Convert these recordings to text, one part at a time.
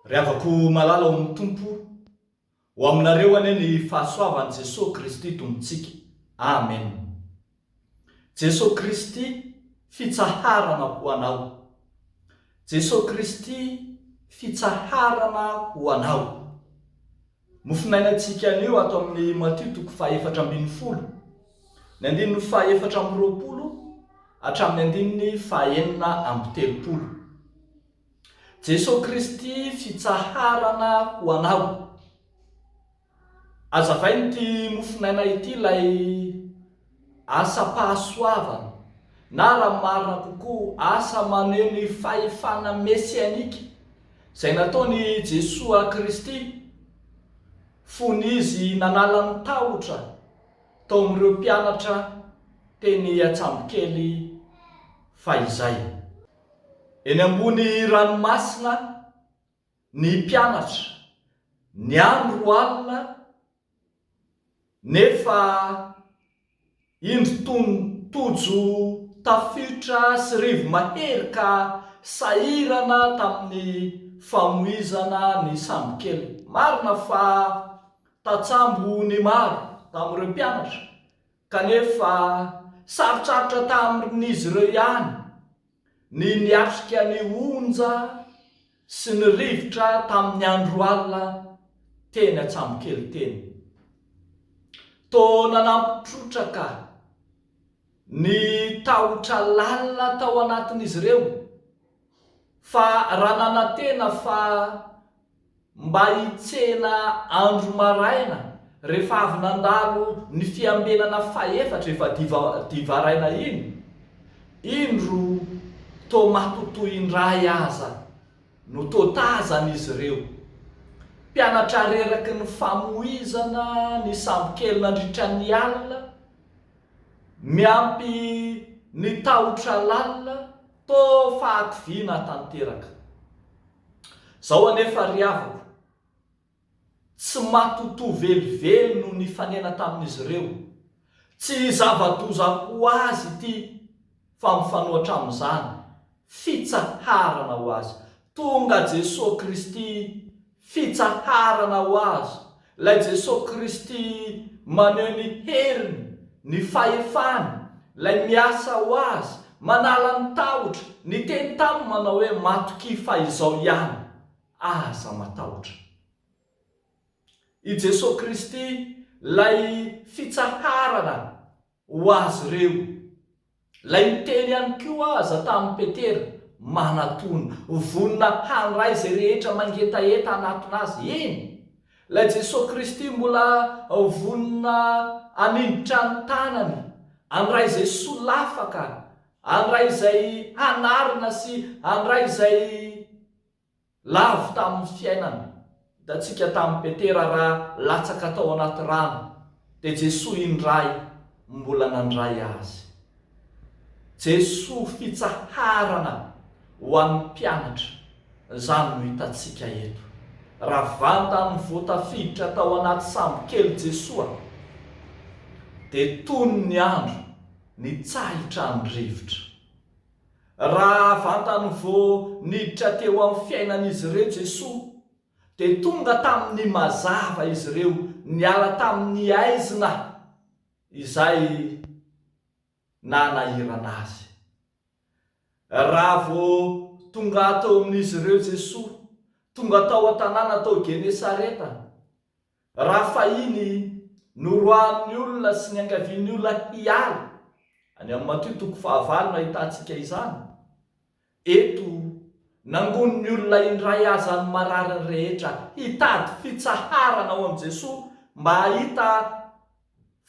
Ry havako malala ao amin'ny Tompo, ho aminareo anie ny fahasoavan'i Jesoa Kristy Tompontsika. Amen. Jesoa Kristy fitsaharana ho anao Jesoa Kristy fitsaharana ho anao Mofinainantsika anio ato amin'ny Matio toko fahefatra ambin'ny folo, ny andininy fahefatra amby roapolo hatramin'ny andininy fahenina amby telopolo Jesoa Kristy fitsaharana ho anao. Azavaino ity mofonaina ity ilay asam-pahasoavana na raha marina kokoa asa maneho ny fahefana mesianika izay nataon' i Jesoa Kristy fony Izy nanala ny tahotra tao amin' ireo mpianatra teny an-tsambokely fahizay eny ambony ranomasina. ny mpianatra ny andro alina nefa indro tony Tojo tafiotra sy Rivo mahery ka sahirana tamin'ny famoizana ny sambokely. Marina fa tatsambo ny maro tamin'ireo mpianatra kanefa sarotrarotra tamin'izy ireo ihany Ny niatrika ny onja sy ny rivotra tamin'ny andro alina teny Antsambokely teny. Toa nanampy trotraka ny tahotra lalina tao anatin'izy ireo fa raha nanantena fa mba hitsena andro maraina rehefa avy nandalo ny fiambenana fahefatra efa divaraina iny, indro toa matotoa indray aza no toa tazana izy ireo. Mpianatra reraky ny famoizana ny sambokely nandritra ny alina, miampy ny tahotra lalina, toa fahakiviana tanteraka. Zao anefa ry havako, tsy matotoa velively no nifanena tamin'izy ireo. Tsy zava-doza ho azy ity fa mifanohatra amin'izany, fitsaharana ho azy. Tonga Jesoa Kristy, fitsaharana ho azy, Ilay Jesoa Kristy maneho ny heriny, ny fahefany, Ilay miasa ho Azy, manala ny tahotra, niteny taminy manao hoe, Matokia fa izao ihany, aza matahotra. I Jesoa Kristy, Ilay fitsaharana Ho azy ireo. Ilay miteny ihany koa aza tamin'i Petera, manatòna, vonona handray izay rehetra mangetaheta hanatona azy. Eny, ilay Jesoa Kristy mbola vonona haninjitra ny tanany, handray izay solafaka, handray izay hanarina sy handray izay. Lavo tamin'ny fiainana hitantsika tamin'i Petera raha latsaka tao anaty rano dia Jesoa indray mbola nandray azy. Jesoa fitsaharana ho an'ny mpianatra izany no hitantsika eto. Raha vantany vao tafiditra tao anaty sambo kely Jesoa dia tony ny andro nitsahitran'ny rivotra. Raha vantany vao niditra teo amin'ny fiainan'izy ireo Jesoa, dia tonga tamin'ny mazava izy ireo, niala tamin'ny aizina izay nanahirana Azy. Raha vao tonga teo amin'izy ireo Jesoa, tonga tao an-tanàna tao Genesareta, Raha fahiny, noroahan'ny olona sy niangavian'ny olona hiala, any amin'ny Matio toko fahavalo no ahitantsika izany. Eto, nangonin'ny olona indray aza ny marariny rehetra hitady fitsaharana ao amin'i Jesoa mba hahita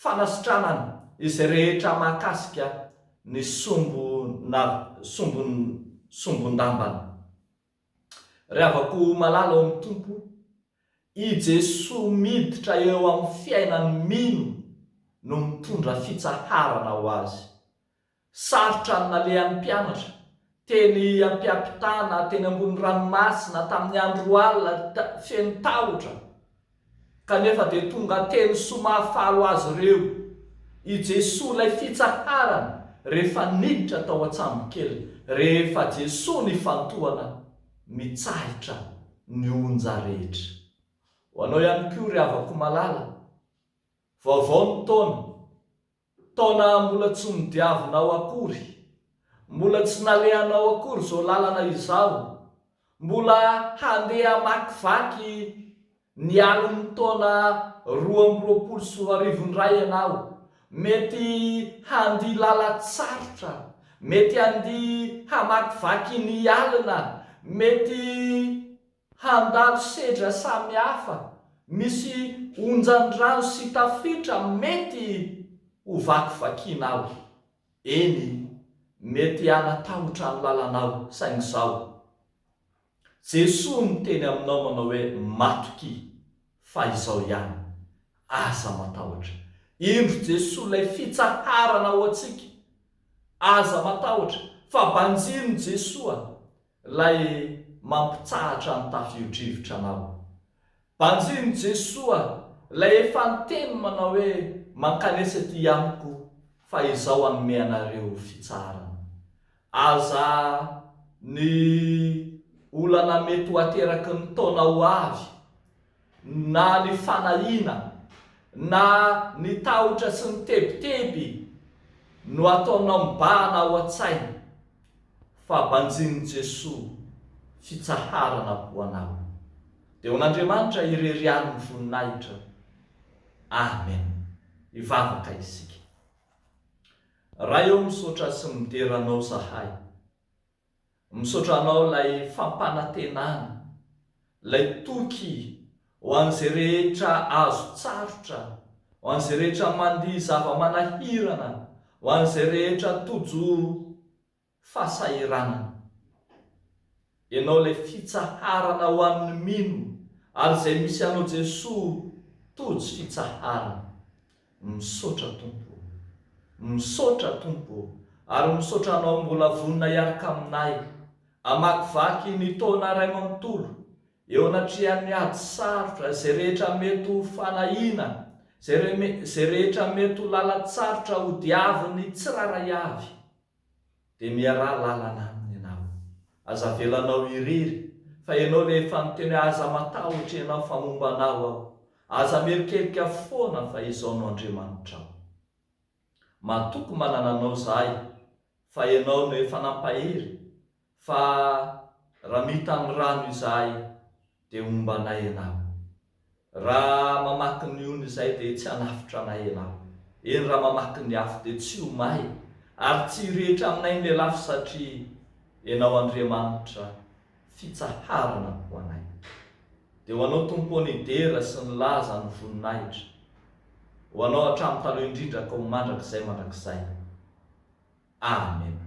fanasitranana izay rehetra mahakasika ny sombina sombin-dambana. Ry havako malala ao amin'ny Tompo, i Jesoa miditra eo amin'ny fiainan'ny mino no mitondra fitsaharana ho azy. Sarotra ny nalehan'ny mpianatra, teny am-piampitana, teny ambony ranomasina, tamin'ny andro alina, feno tahotra. Kanefa dia tonga teny soa mahafaly azy ireo i Jesoa ilay fitsaharana rehefa niditra tao an-tsambokely rehefa Jesoa nifantohana mitsahitra ny onja rehetra. Ho anao ihany koa ry havako malala, vaovao ny taona, Taona mbola tsy nodiavinao akory, mbola tsy nalehanao akory izao lalana izao, mbola handeha hamakivaky ny alin'ny taona roa amby roapolo sy roa arivo indray ianao, mety handia lalan-tsarotra, mety handia hamakivaky ny alina, mety. Handalo sedra samihafa misy onjan-drano sy tafiotra mety ho vakivakianao. Eny, mety hanatahotra ny lalanao, saingy izao, Jesoa niteny aminao manao hoe matokia, fa izao ihany, aza matahotra. Indro Jesoa ilay fitsaharana ho antsika. Aza matahotra, fa banjinon'i Jesoa. Ilay mampitsahatra ny tafio-drivotra anao. Banjin'i Jesoa ilay efa niteny manao hoe mankanesa ety amiko fa izaho hanome anareo fitsaharana. Aza ny olana mety ho ateraky ny taona ho avy na ny fanahiana, na ny tahotra sy ny tebiteby no ataonao mibahana ao an-tsaina, fa banjinin'i Jesoa fitsaharana ho anao. Dia ho an'Andriamanitra irery ihany ny voninahitra. Amen. Hivavaka isika. Ray ô misaotra sy midera Anao zahay. Misaotra anao ilay fampanantenana, ilay toky ho an'izay rehetra azo tsarotra, ho an'izay rehetra mandia zava-manahirana, ho an'izay rehetra tojo fahasahiranana. Ianao ilay fitsaharana ho an'ny mino ary izay misy anao Jesoa tojo fitsaharana. Misaotra Tompo o! Misaotra Tompo o! Ary misaotra Anao mbola vonona hiaraka aminay hamakivaky ny taona iray manontolo eo anatrehan'ny ady sarotra, izay rehetra mety ho fanahiana, izay rehetra mety ho lalan-tsarotra hodiavin'ny tsirairay avy. dia miaraha lalana aminy ianao. Aza avelanao irery, fa ianao ilay efa niteny hoe aza matahotra ianao fa momba anao aho, aza mierikerika foana fa izaho no Andriamanitrao. Matoky manana anao izahay fa ianao no efa nampahery Fa raha mita amin'ny rano izahay dia homba anay ianao. Raha mamaky ny ony izahay dia tsy hanafitra anay ianao. Eny raha mamaky ny afo dia tsy ho may ary tsy hirehitra aminay ny lelafo satria ianao Andriamanitra fitsaharana ho anay. Dia ho anao Tompo ô ny dera sy ny laza ny voninahitra. ho anao hatramin'ny taloha indrindra ka ho mandrakizay mandrakizay. Amena.